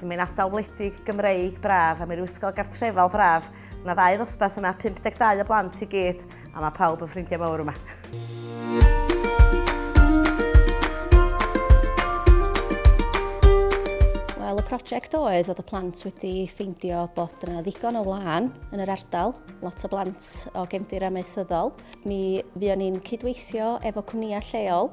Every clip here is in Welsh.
Ym ein ardal wledig Gymreig braf a mewn ysgol gartrefol braf, mae ddau ddosbarth yma, 52 o blant i gyd, a mae pawb yn ffrindiau mawr yma. Wel, y prosiect oedd oedd y plant wedi ffeindio bod yna ddigon o wlân yn yr ardal, lot o blant o gefndir amaethyddol, Mi fuon ni'n cydweithio efo cwmnïau lleol,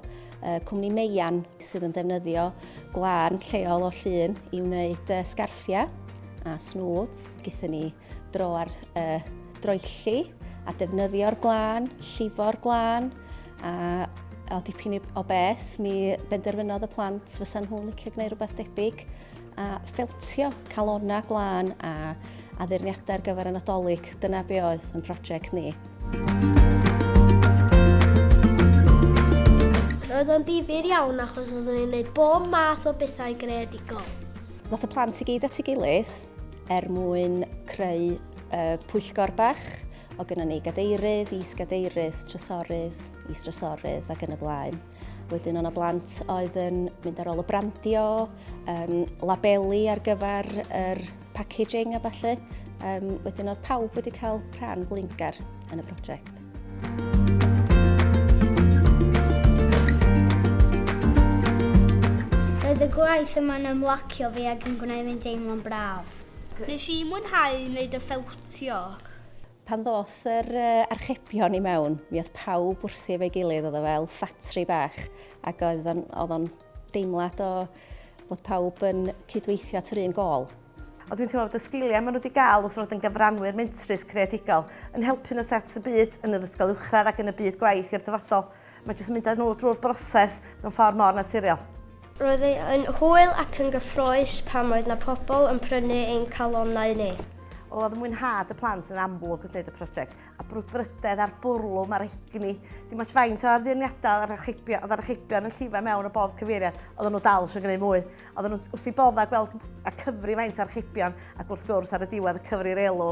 cwmni Meian sydd yn ddefnyddio gwlân lleol o llun i wneud sgarffiau a snwds. Gyda ni dro ar y droelli a defnyddio'r gwlân, llifo'r gwlân a o dipyn o beth mi benderfynodd y plant fysa nhw'n licio gwneud rhywbeth debyg. a ffeltio calonnau glân a addurniadau ar gyfer y Nadolig. Dyna be oedd yn prosiect ni. Roedd o'n difyr iawn achos oeddwn ni'n gwneud bob math o bethau greadigol. Ddoth y plant i gyd at ei gilydd er mwyn creu uh, pwyllgor bach o gynnau ni gadeirydd, is-gadeirydd, trysorydd, is-trysorydd ac yn y blaen. Wedyn o'na blant oedd yn mynd ar ôl y brandio, um, labeli ar gyfer yr packaging a falle. Um, wedyn oedd pawb wedi cael rhan blingar yn y prosiect. Roedd y gwaith yma'n ymlacio fi ac yn gwneud fi'n deimlo'n braf. Nes i mwynhau wneud y ffewtio. Pan ddos yr archebion i mewn, mi oedd pawb wrthi efo'i gilydd, oedd o fel ffatri bach, ac oedd o'n deimlad o bod pawb yn cydweithio at yr un gol. Ond dwi'n teimlo bod y sgiliau maen nhw wedi cael wrth fod yn gyfranwyr mentrus creadigol yn helpu nhw set y byd yn yr ysgol uwchradd ac yn y byd gwaith i'r dyfodol. Mae jyst yn mynd â nhw drwy'r broses mewn ffordd mor naturiol. Roedd e yn hwyl ac yn gyffrous pan oedd na pobl yn prynu ein calonnau ni. Wel, oedd mwynhad y plant yn amlwg wrth wneud y prosiect, a brwdfrydedd a'r bwrlwm a'r egni. Dim ots faint o addurniadau oedd archebion, oedd archebion yn llifo mewn o bob cyfeiriad, oedden nhw dal eisiau gwneud mwy. Oedden nhw wrth i bodda gweld a cyfri faint o archebion, ac wrth gwrs ar y diwedd y cyfri'r elw.